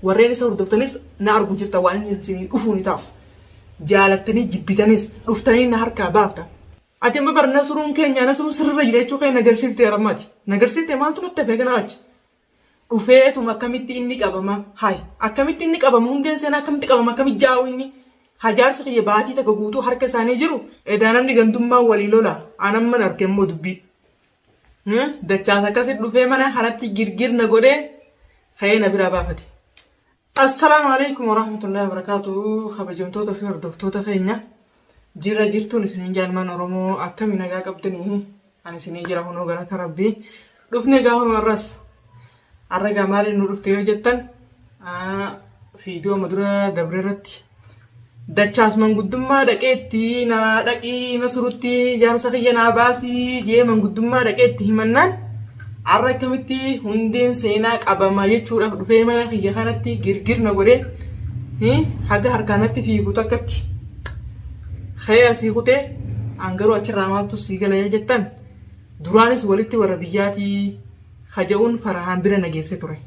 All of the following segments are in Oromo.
Warreen isa hordoftanis na argu jirta waan inni isinii dhufuu ni ta'a. Jaalattanii jibbitanis dhuftanii na harkaa baafta. Ati amma bar nasruun keenyaa nasruun sirrirra jira jechuu kee nagarsiifte rammati. Nagarsiifte maaltu natti hafee kana achi. Dhufeetuma akkamitti inni qabama hay akkamitti inni qabama hundeen seenaa akkamitti qabama akkamitti jaa'u inni hajaarsi kiyya baatii takka guutuu harka isaanii jiru edaa namni gandummaa walii lola anamman arge immoo dubbii. Dachaas akkasi dhufee mana kanatti girgir na godhee ka'ee na biraa baafate. Assalaamu alaikum warahmatullahi wabarakatuh kabajamtoota fi hordoftoota keenya jirra jirtuun isiniin jaalmaan Oromoo akkami nagaa qabdanii ani isinii jira hunoo galata rabbii dhufne gaafuma irras Har'a egaa maaliin nu dhufte yoo jettan fiidiyoo amma dura dabre irratti dachaas manguddummaa dhaqeetti naa dhaqii masurutti jaarsa kiyya naa baasii jee manguddummaa dhaqeetti himannaan har'a akkamitti hundeen seenaa qabama jechuudhaaf dhufee mana kiyya kanatti girgir na godhee hi, haga harkaanatti fiigu takkatti kee asii kutee an garuu achirraa maaltu sii gala yoo jettan duraanis walitti warra biyyaatii ka ja'uun Farahaan bira na geesse ture.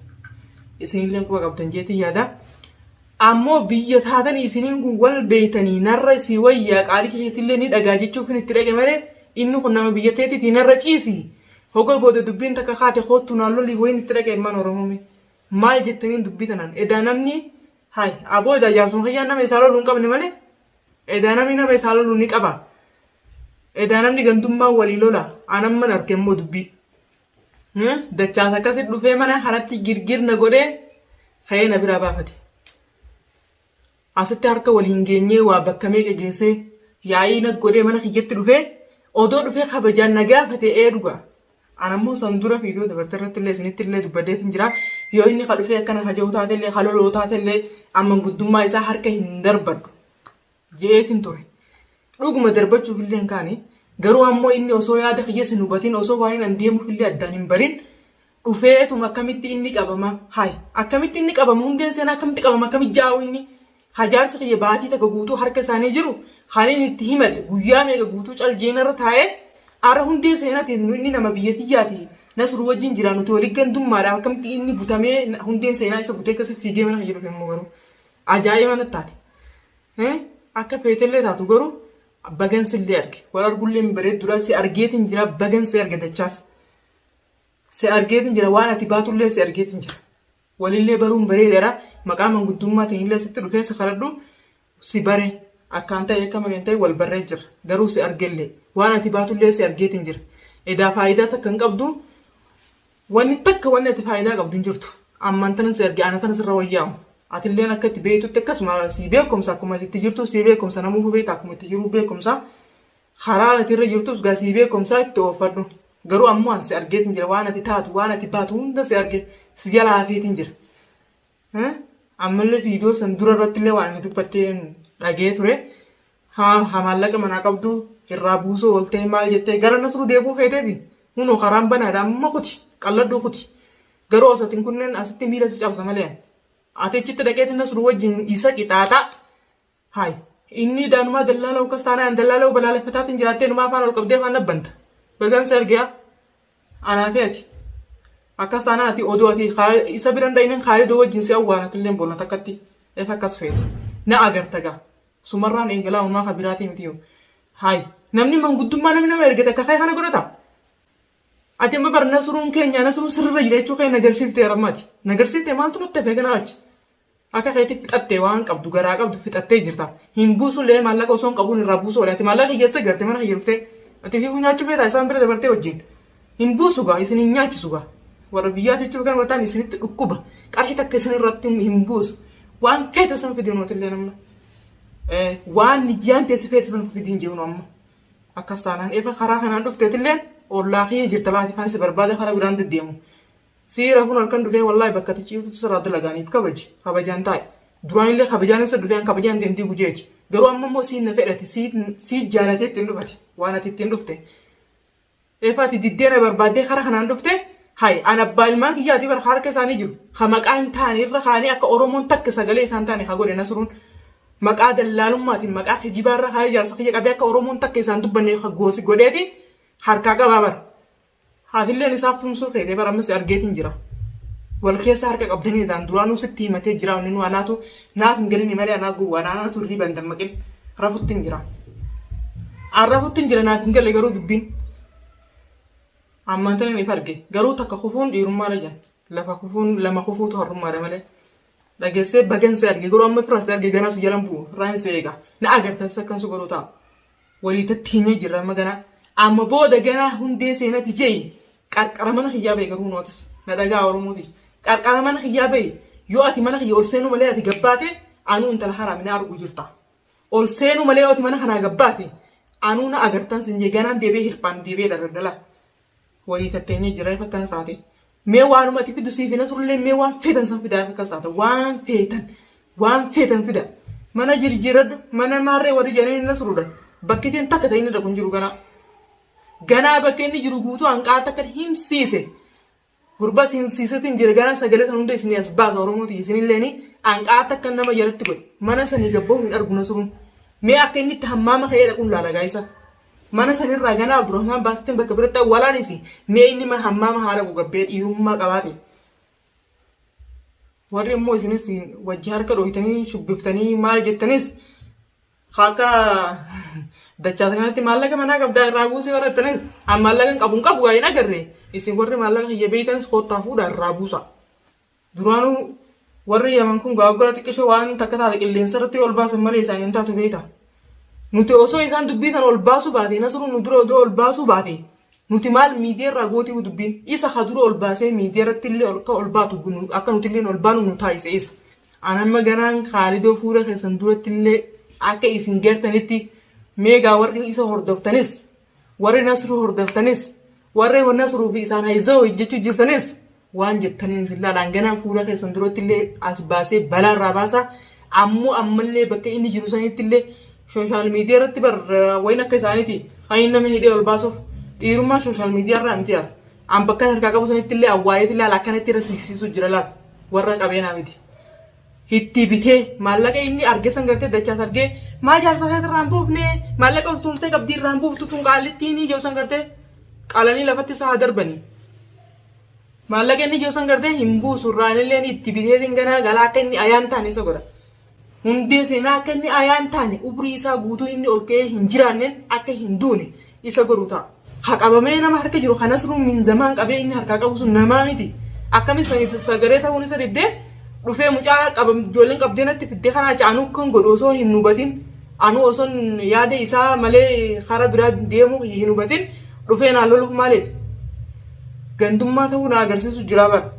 Isinillee quba qabdan jeetii yaada. Ammoo biyya taatanii isiniin kun wal beeytanii narra si wayyaa qaalii keessattillee ni dhagaa jechuuf hin itti dhaqe malee inni kun nama biyya teetitii narra ciisi. Hoga booda dubbiin takka kaate koottu naan lolii wayiin itti dhaqe ilmaan Oromoome. Maal jettaniin dubbii tanaan edaa namni hay aboo edaa jaarsuma kiyyaan nama isaa loluu hin qabne malee edaa namni nama isaa loluu ni qaba. Edaa namni gandummaa walii lola anamman arge immoo dubbii. Dachaas akkasi dhufee mana kanatti girgir na godhee ka'ee na biraa baafate. Asitti harka wal hin geenyee waa bakka meeqa geessee yaa'ii na godhee mana kiyyatti dhufee odoo dhufee kabajaan na gaafate ee dhugaa. Anammoo san dura viidiyoo dabarte irratti illee isinitti illee dubbadee hin jira. Yoo inni ka dhufee akkana ka jiru taate illee ka loloo taate illee amman guddummaa isaa harka hin darbadhu. je'eetin ture. Dhuguma darbachuufillee hin kaane, garuu ammoo inni osoo yaada kiyyas hin hubatin, osoo waa'een an deemuufillee addaan hin barin, dhufeetuma akkamitti inni qabama, hay, akkamitti inni qabama, hundeen seenaa akkamitti qabama, akkamitti jaa'u inni, ka jaarsi kiyya baatii takka guutuu harka isaanii jiru, kan inni itti himadhe, guyyaa meeqa guutuu cal je'ee narra taa'ee, ara hundee seenati nu inni nama biyya tiyyaati, Nasruu wajjin jira, nuti wali gandummaadha, akkamitti inni butamee, hundeen seenaa isa butee akkasi fiigee mana kiyya dhufe immoo garuu. Ajaa'iba natti taate. Eh, Akka feetellee taatu garuu bagan sillee arge. Wal argullee hin bareedduudha. Si argeetiin jira bagan si arge dachaas. Si argeetiin jira waan ati baatullee si argeetiin jira. Walillee baruun bareedaadha. Maqaa manguddummaatiin illee sitti dhufee si kadhadhu si bare akkaan ta'e akka malee hin ta'e wal barree jira. Garuu si argellee waan ati baatullee si argeetiin jira. Edaa faayidaa takka hin qabdu. Wanni takka wanni ati faayidaa qabdu hin jirtu. Ammaan tanan si arge ana tana sirra wayyaa'u. Atilleen akka itti beektutti akkasuma sii beekumsa akkuma ati itti jirtu sii beekumsa namuufu beekta akkuma itti jiruu beekumsa. Karaa ati irra jirtus gaa sii beekumsa itti oofadhu. Garuu ammoo an si argeetiin jira waan ati taatu waan ati baatu hunda si arge si jala hafeetiin jira. Eh, ammallee viidiyoo san dura irratti illee waan hin dubbatteen dhagee ture. Ha, ha maallaqa manaa qabdu irraa buusuu ooltee maal jettee gara nasruu deebuu feeteeti. Hunoo karaan banaadha amma kuti qalladhuu kuti. Garuu osoo hin kunneen asitti miila si cabsa malee. Ati achitti dhaqeeti nasruu wajjin isa qixaaxaa. Hay. Inni idaanumaa dallaala'u kas taanaan an dallaala'u balaaleffataatiin jiraattee numaa afaan ol qabdee afaan nabbanta. Bagan si arge yaa. Anaa fi ati. Akkas taanaan ati odoo ati Khaa- isa biran dhaynin Khaalidoo wajjin si awwaalatilleen boona takkatti. Eef akkas feete. Na agarta gaa. Sumarraan eegalaa umaa ka biraatii miti yoo. Hay. Namni manguddummaa namni nama ergate akka kee kana godhata. Ati amma bar nasruun keenya nasruun sirrirra jira jechuu kee nagarsiifte rammaati. Nagarsiifte maaltu natti hafe kanaa achi. Akka keetti fixatte waan qabdu garaa qabdu fixattee jirta hin buusullee maallaqa osoon qabuun irraa buusuu oole ati maallaqa kiyya eessa garte mana kiyya dhuftee ati fiifuu nyaachuu feetaa isaan bira dabartee wajjin hin buusu gaa isin hin nyaachisu gaa warra biyyaa jechuun kan wataan isinitti dhukkuba qarshii takka isin irratti hin buusu waan feete san fidin mootillee namna waan niyyaan teessi feete san fidin jeenu amma akkas taanaan efa karaa kanaan dhufteetillee ollaa kiyya jirta baati faansi barbaada karaa biraan deddeemu. Siira kun halkan dhufee wallahi bakka ati ciiftutti sirraa dalagaaniif kabaji kabajaan taa'i duraanillee kabajaan isa dhufee an kabajaan kee hin diigu jeeti garuu amma immoo siin na fedhate sii jaalatee ittiin dhufate waan ati ittiin dhufte efa ati diddee na barbaaddee kara kanaan dhufte hay an abbaa ilmaan kiyyaati bar harka isaanii jiru ka maqaa hin taane irra kaanii akka oromoon takka sagalee isaan taane ka godhe nasruun maqaa dallaalummaatiin maqaa kijibaa irra kaayee jaarsa kiyya qabee akka oromoon takka isaan dubbanne ka goosi godheeti harkaa qabaa bara Haatilleen isaaf tumsuu feetee bar amma si argeetiin jira. Wal keessa harka qabdanii jedhaan duraanuu sitti himatee jira wanni nu anaatu naaf hin galinii malee anaa gowwaadha anaatu hirriiba hin dammaqin rafuttiin jira. An rafuttiin jira naaf hin galle garuu dubbiin. Ammaan tana ni arge garuu takka kufuun dhiirummaadha jedhan lafa kufuun lama kufuutu harrummaadha malee. Dhageessee bagan si arge garuu amma firas arge ganaa si jalan bu'u irraa hin si eega na agartan sakkan si godhu ta'a. Walii tatteenya jirra amma ganaa. Amma booda ganaa hundee seenati jeyi qarqara mana kiyyaa bayi garuu notes na dhagaa oromoo tiyya. Qarqara mana kiyyaa bayi yoo ati mana kiyya ol seenuu malee ati gabbaate anuu intala haraami na argu jirta. Ol seenuu malee yoo ati mana kanaa gabbaate anuu na agartan sin jee ganaan deebee hirphaan deebee dhala dhala. Wayii tatteenyee jira ifa akkana saate. Mee waanuma ati fidu siif hin hasurlee mee waan feetan san fidaa ifa akkana saata. Waan feetan waan feetan fida. Mana jirjiiradhu mana maarree warri jedhanii hin hasurudha. Bakki ittiin takka ta'in dhaqu hin jiru ganaa. Ganaa bakka inni jiru guutuu hanqaar takka himsiise. Gurba sin sisatin jira garan sagale san hunda isini as baasa oromoo tiyya sinilleeni anqaata akka nama jalatti godhe mana sanii gabboo hin argu nasruun mee akka inni itti hammaama ka'ee dhaqun laala gaayisa mana sanirraa ganaa abdurahmaan baasittin bakka biratti awwalaanisi mee inni ma hammaama haa dhaqu gabbee dhiirummaa qabaate warri immoo isinis wajji harka dhooytanii shubbiftanii maal jettanis Akka dachaasa kanatti maallaqa manaa qabdaa irraa buusii warra ittanis an maallaqa hin qabu hin qabu hin agarre isin warri maallaqa kiyya beeytanis koottaa fuudha irraa buusa. Duraanuu warri yaman kun gaaggaa xiqqisho waan takka taate qilleensa irratti ol baasan malee isaanii hin taatu beeyta. Nuti osoo isaan dubbii sana ol baasuu baate nasruu nu dura odoo ol baasuu baate nuti maal miidiyaa irraa gootii dubbiin isa ha dura ol baasee miidiyaa irratti illee akka ol baatu akka nuti illee ol baanu nu taasise isa. An amma ganaan kaalidoo fuula keessan duratti illee akka isin gartanitti meegaa warri isa hordoftanis warri nasruu hordoftanis warri nasruu fi isaan hayzoo hojjechuu jirtanis waan jettaniin isin laalaan ganaan fuula keessan duratti illee as baasee balaa irraa baasa ammoo ammallee bakka inni jiru sanitti illee sooshaal miidiyaa irratti bar wayin akka isaaniiti kan inni nama hidhee ol baasuuf dhiirummaa sooshaal miidiyaa irraa miti yaa An bakkan harkaa qabu sanitti illee awwaaleeti laala akkanatti irra siiqsiisuu jira laala warra qabeenaa miti. Itti bitee maallaqa inni arge san gartee dachaas argee maa jaarsa keessa irraa hin buufne maallaqa ol tuultee qabdii irraa hin buuftu tun qaallittiin ijoo san gartee qalanii lafatti isaa haa darbanii. Maallaqa inni ijoo san gartee hin buusu irraa illee itti bitee sin ganaa galaa akka inni ayaan taane isa godha. Hundee seenaa akka inni ayaan taane ubrii isaa guutuu inni ol ka'ee hin jiraanneen akka hin duune isa godhu ta'a. Ha qabamee nama harka jiru kan Asruu min Zamaan qabee inni harkaa qabu sun namaa miti. Akkamiin saniif sagaree ta'uun isa diddee dhufee mucaa qabam ijoolleen qabdee natti fiddee kanaa caanuu kan godhu osoo hin hubatin anuu osoon yaada isaa malee karaa biraa deemuu kiyya hin hubatin dhufee naa loluuf maaliif? Gandummaa ta'uu na agarsiisu jira bara.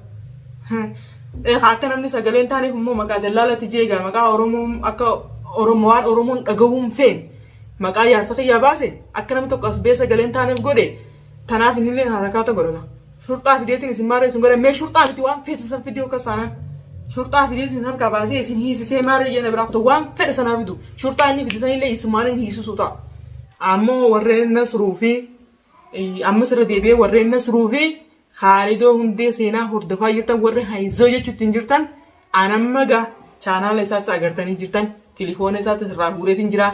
Egaa akka namni sagalee hin taaneef immoo maqaa dallaalatti jeegaa maqaa Oromoo akka Oromoo waan Oromoon dhagahuun feen maqaa jaarsa kiyyaa baase akka namni tokko as bee sagalee hin taaneef godhe tanaaf inni illee harakaata godhata. Shurxaa fideetiin isin maarree isin godhan mee shurxaa miti waan feete san fidee akkas taanaan. Shurxaa fidee isin harkaa baasee isin hiisisee maarree jeena biraa kutu waan fedhe sanaa fidu. Shurxaa inni fide san illee isumaaniin hiisisuu ta'a. Ammoo warreen nasruu fi ammas irra deebi'ee warreen nasruu fi Kaalidoo Hundee seenaa hordofaa jirtan warri hayizoo jechuutti hin jirtan an amma gaa chaanaala isaatti agartanii jirtan tilifoona isaatti irraa guureetiin jira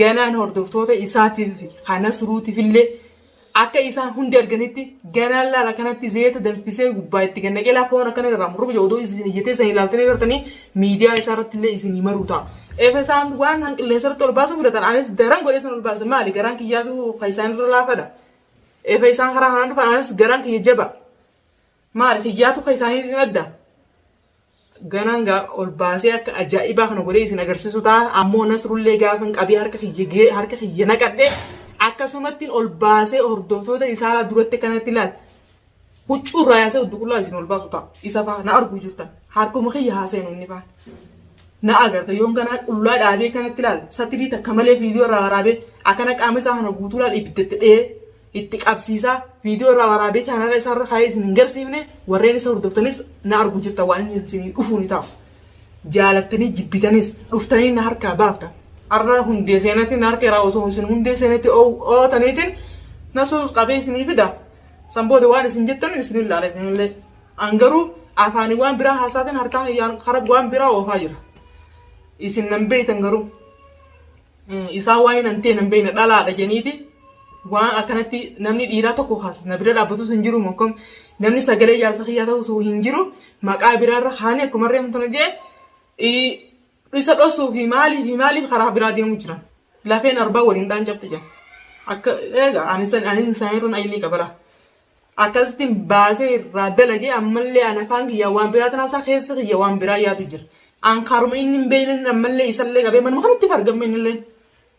ganaan hordoftoota isaatiif kana suruutiif illee akka isaan hundi arganitti ganaan laala kanatti zeeta danfisee gubbaa itti gannaqee laafoon akkana irraa murrugu jedhu odoo isin iyyatee isin ilaaltanii agartanii miidiyaa isaa irratti illee isin himaruu ta'a. Efe isaan waan isaan qilleensa irratti ol baasuu fudhatan anis daran godhee kan ol baasan maali garaan kiyyaatu kan isaan irra laafadha. Eega isaan karaa kanaan dhufan anis garaan kiyya jaba. Maali kiyyaatu kan isaaniitiin adda. Ganaan gaa ol baasee akka ajaa'ibaa kana godhee isin agarsiisu ta'a. Ammoo nasrullee gaafan qabee harka kiyya gee harka kiyya naqadhe akkasumattiin ol baasee hordoftoota isaalaa duratti kanatti ilaal. Huccuu irraa yaasee udduqullaa isin ol baasu ta'a. Isa faa na arguu jirtan. Harkuma kiyya haa seenu inni faan. Na agarta yoon ganaa qullaa dhaabee akkanatti laal satirii takka malee viidiyoo irraa waraabee akkana qaama isaa kana guutuu laal ibidda itti dhee itti qabsiisaa viidiyoo irraa waraabee chaanaala isaa irra kaayee isin hin garsiifne warreen isa hordoftanis na arguu jirtan waan inni isinii dhufuu ni ta'a. Jaalattanii jibbitanis dhuftanii na harkaa baaftan. Arra hundee seenatti na harkeeraa osoo isin hundee seenatti ootaniitiin na suus qabee isinii fida. San booda waan isin jettan isin ilaala isinillee. An garuu afaanii waan biraa haasaatiin harkaa hiyyaan karaa waan biraa oofaa jira. Isin nan beeytan garuu. Isaa waa'ee nan ta'e nan beeyna dhalaadha jeniiti. Waan akkanatti namni dhiiraa tokko kaas na bira dhaabbatus hin jiru mokkam namni sagalee jaarsa kiyyaa ta'us hin jiru maqaa biraarra kaanii akkuma reemtu na jee Isa dhosuu fi maalii fi maaliif karaa biraa deemuu jiran. Lafeen arbaa wal hin dhaancabti jedha. Akka eega ani san ani san irra ayilii qabara. Akkasitti baasee irraa dalagee ammallee an afaan kiyyaa waan biraa tanaa isaa keessa kiyya waan biraa yaadu jira. An karuma inni hin beekne ammallee isallee qabee manuma kanatti fargamme innillee.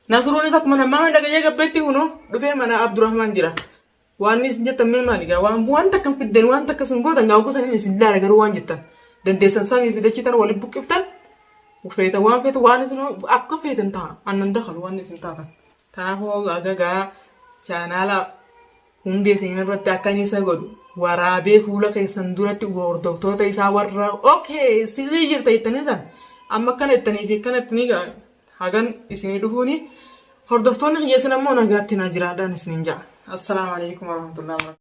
Nasruun isa akkuma nammaa mana dhagayee gabbeetti kunoo dhufee mana Abdurrahmaan jira. Waanni isin jettan mee maali gaa waan waan takka hin fiddan waan takka isin gootan gaa oguu sanin isin laala garuu waan jettan dandeessan samii fi dachii tana waliin buqqiftan feetan waan feetan waan isin akka feetan ta'a annan dakalu waan isin taatan kanaafuu aga gaa chaanaala hundee seenan irratti akka inni isa godhu waraabee fuula keessan duratti hordoftoota isaa warra okay silii jirta jettanii san amma akkana jettanii fi akkana jettanii gaa hagan isinii dhufuuni hordoftoonni kiyya isin ammoo nagaatti naa jiraadhaan isiniin ja'a. Assalaamu alaikum warahmatullahi wabarakatuh.